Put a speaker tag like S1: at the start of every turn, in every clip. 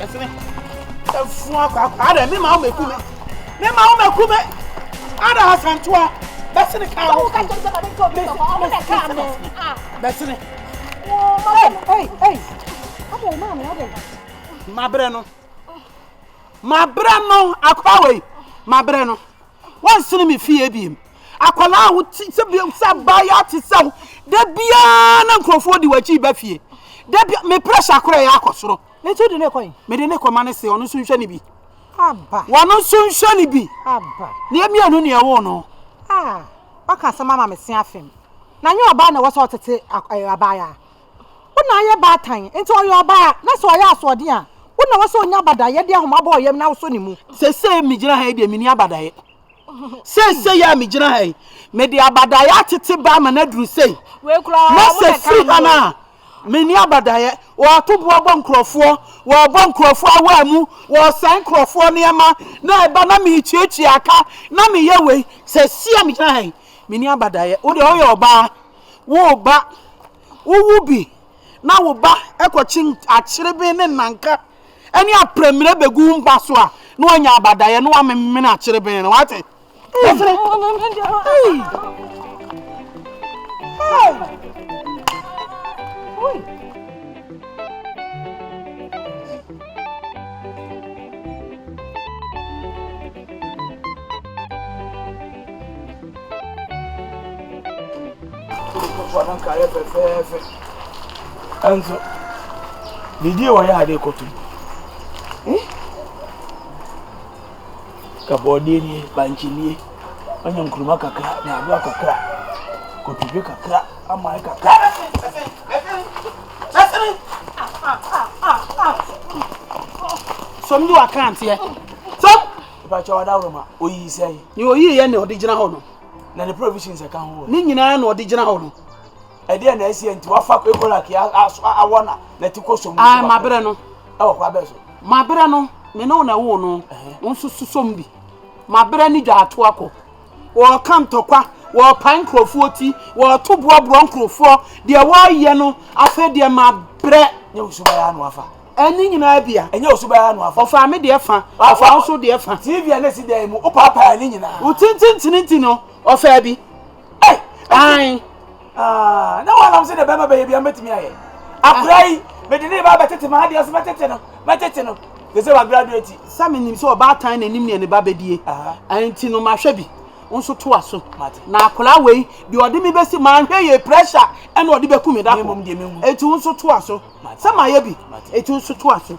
S1: Ɛfene. Ɛfu akwaakwa. Ada mi ma ɔmɛku mi. Mi ma ɔmɛku mi. Ada asantoa. Bɛsene kaa wo. Woka kyerɛ sɛ ma ne ntɔ mi sɔkɔ. Ɔmo na kaa mi. Bɛsene.
S2: Ei, ei, ei. Ada yi maa mi ada yi. Mabrɛ no.
S1: Mabrɛ no akora wei. Mabrɛ no. Wɔnsene me fie ebiem. Akwadaa a wote sɛ bi sɛ abaayewa te sɛ wo. Da biara na nkurɔfoɔ di w'akyi ba fie. Da bi me pressure korɛ yɛ akɔ soro. Enti wode no rekɔ he?
S2: Mede no rekɔ ma no se ɔno
S1: nso nhwɛ no bi. Aba. Wɔno
S2: nso nhwɛ
S1: no bi. Aba. Ne yɛ mmienu
S2: ne yɛwoo
S1: no. Ah, woaka
S2: asɛm ama me se afem. Na nyɛ ɔbaa na ɛwɔ sɛ ɔtete ɛɛ abaayaa. Wo na ayɛ baatan, enti ɔyɛ ɔbaa na sɛ ɔyɛ asoɔden a, wo na ɛwɔ sɛ ɔnya abadaeɛ de ahoma bɔ ɔyam na wosɔ ne mu. Seesei megyina ha yi
S1: deɛ menni abadaeɛ. Seesei a megyina ha yi, mede abadaeɛ atete baa ma no aduru sei. Wei koraa, mo na ɛkaa no. Na sɛ
S2: firi ha no
S1: a. Menni abadaeɛ, wɔɔto boɔ bɔ nkurɔfoɔ, wɔɔbɔ nkurɔfoɔ awaa mu, wɔɔsɛe nkurɔfoɔ nneɛma, na ɛba na meretuatua aka, na meyɛ wei, sesie a megyina ha yi, menni abadaeɛ. Wo deɛ woyɛ ɔbaa, woreba, wowo bi, na wo ba kɔkye akyereben ne nnanka ne aprɛmire bɛgu wo mma so a, na woanya abadaeɛ, na woamemene akyereben no, woate?
S3: ɛnso didi wɔ yɛ ade kɔtum ka borɔdeɛ nie, bankye nie, woanya nkruma kakra, nyaadoa kakra, kotodwe kakra, aman kakra.
S1: Sɔm yi wɔ akranteɛ. Sɔm. Ìbàkyɛ wà dáwọ̀rọ̀
S3: ma oyi sẹ́yìn. Ni oyi yẹn na ọ̀dí
S1: gyina hɔ no. Na ne provisions
S3: ẹ̀ka ho. Ne nyinaa na ọ̀dí gyina
S1: hɔ no. Ɛdeɛn na
S3: ɛseɛ nti wafa Korak yi aso awɔ na nati kɔ som mu? Ae, mabrɛ no.
S1: Ɛwɔ kwa bɛn so?
S3: Mabrɛ no,
S1: me ne wo na ɛwoo no, wo nso so som bi. Mabrɛ ne dwa ato akɔ. Wɔreka ntɔkwa, wɔrepae nkurɔfoɔ ti, wɔreto boɔborɔ nkurɔfoɔ, deɛ wɔreyɛ no, afei deɛ mabrɛ. Nyɛ wo suban ara na
S3: wafa. Ɛne nyinaa bi a.
S1: Ɛnyɛ wo suban ara na wafa.
S3: Ɔfaa me deɛ fa,
S1: ɔfaa wo nso deɛ fa. TV a na ɛsi dan yi mu,
S3: wopaepaee ne nyinaa. Wo tententene nti no,
S1: ɔfaa bi. Hey, ayi, ah,
S3: na wɔn nam sɛ de bɛma bɛyɛ bi a mɛtumi ayɛ. Akora yi, mede ne ba bɛtete maa deɛ so mɛtete no, mɛtete no. Te sɛ wa graduate. Sɛ menim sɛ ɔbaatan
S1: na anim ne ne ba bɛdie. Ɛnti no mahwɛ bi. Nso to aso. Na akora wei, deɛ ɔde me bɛsi maa nhwɛ yɛ pressure ɛna ɔde bɛku me da ko. Ɛnti nso to aso. Sɛ mayɛ bi, ɛnti nso to aso.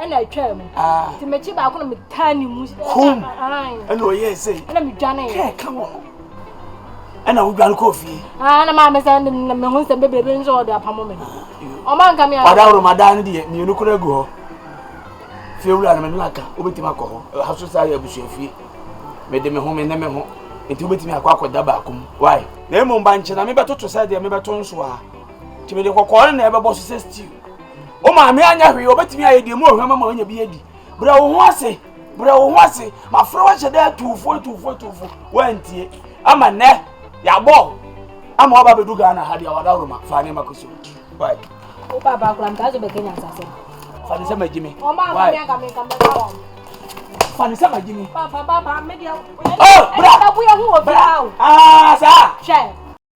S2: ɛna atwaa mu ah. nti mekyi baako na metaa ne mu kom ɛna
S3: ɔyɛɛ sɛ ɛna medwaneeɛ kɛɛ
S2: ka
S3: wɔ ho ɛna wodwane kɔɔ fie ah, na maame sɛ
S2: meho nsɛm bebrebe nso ɔde apamo me no ah, ɔma nka me ɔdaworo madaa no deɛ
S3: mmienu kora agu hɔ fie wura no me no aka wobɛtumi akɔ hɔ ha so saa yɛ abusua fie mede me ho me ne me ho nti wobɛtumi akɔ akɔda baako mu wae na mmom ba nkyɛ na mebɛtoto sɛ deɛ mebɛto nso a nti mede kɔkɔɔ no na ɛbɛbɔ so sɛ stew wo maame anyɛ hwee ɔbɛtumi ayɛ deɛ mu ɔhwɛ ma ma ɔnya bi adi brɛ wo ho ase brɛ wo ho ase mafrɛ wahyɛ dɛ atuufo atuufo atuufo woantie ama nnɛ yɛabɔ ama waba bɛdu ghana ha deɛ wadaworo ma fa ne ma kɔ so wai wo papa
S2: kora mtaa so
S3: bɛka
S2: nyansasɛm fa ne sɛ magye me wai
S3: fa ne sɛ magye me
S4: oh bra
S3: bra
S4: ah saa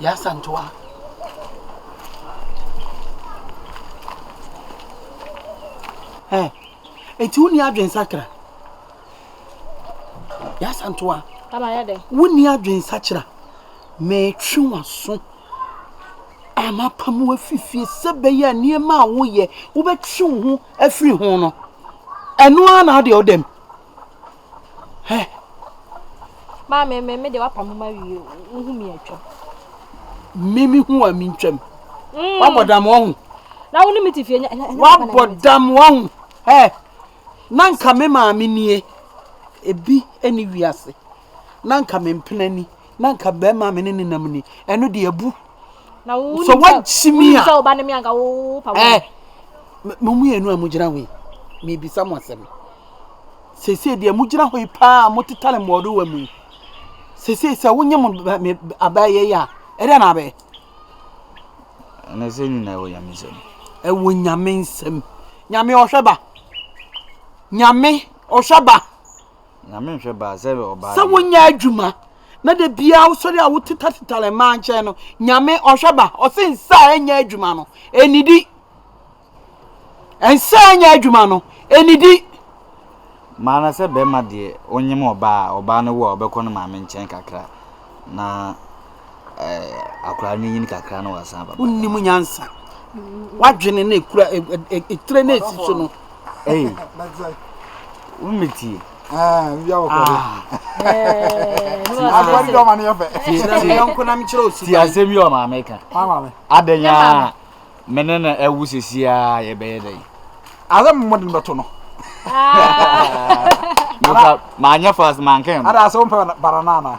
S1: Yɛasantoa. Ɛ eti wonni adwensakra. Yɛasantoa. Ama yɛ dɛ.
S4: Wonni adwensakra.
S1: Mɛtwe w'aso a mapam wo afiri fie sɛ bɛyɛ a nneɛma a woyɛ wobɛtwe wo ho afiri ho no ɛno ara na ɔde ɔdam Hɛ!
S4: Maame, me me de wapam ma wie o, wohu me atwam. Me
S1: me hu a me ntwam. Mm. Wabɔ dam wɔn. Na wo ne me te fie
S4: nya. Wabɔ dam wɔn.
S1: Hɛ! Na nka me maame nie. Ebi ɛni wiase. Na nka me mpena ni. Na nka bɛrima me ne nenam ni. Ɛno de abu. Na wo sɛ
S4: woakyimi a sɛ woba ne me anka
S1: wo
S4: pa wo. Eh, mo
S1: mmienu a mogyina hɔ yi, mebisa mo asɛm. Sese deɛ mogyina hɔ yi paa a motetare mmɔɔdowa mu yi, sese sɛ wonye mo abɛyɛ yi a, ɛdɛ na abɛyɛ?
S5: Ɛnɛ sɛ nyina ɛwɔ nyame nsɛm. Ɛwɔ nyame
S1: nsɛm. Nyame ɔhwɛ ba. Nyame ɔhwɛ ba.
S5: Sɛ wonyɛ adwuma
S1: na da biara wosɔre a wotetateta mmaa nkyɛn no, Nyame ɔhwɛ ba. Ɔse nsa a ɛnyɛ adwuma no, ɛnidi. Nsa a ɛnyɛ adwuma no, ɛnidi.
S5: Maa na sɛ bɛrima deɛ onyem ɔbaa a, ɔbaa no wo a, ɔbɛkɔ no maame nkyɛn kakra na. akwadaa no nyini kakra na wasan aba. Wonnim nyansa.
S1: Wadwene na ekura etire na esi so no. Ee.
S5: Wommetie. Ah, bi awo
S3: kɔ.
S4: Agbari dɔ ma ne yɛ fɛ.
S3: Yɔnko na mekyerɛ osu.
S1: Ti asɛm yi wɔ maame
S5: ka. Maame. Adanya
S3: a
S5: me ne na awu sisi a yɛbɛyɛ dɛ. Asɛm mo de
S3: bɛto no.
S5: Manyɛ fast mankɛn. Ada asɛm pɛ banana
S3: na.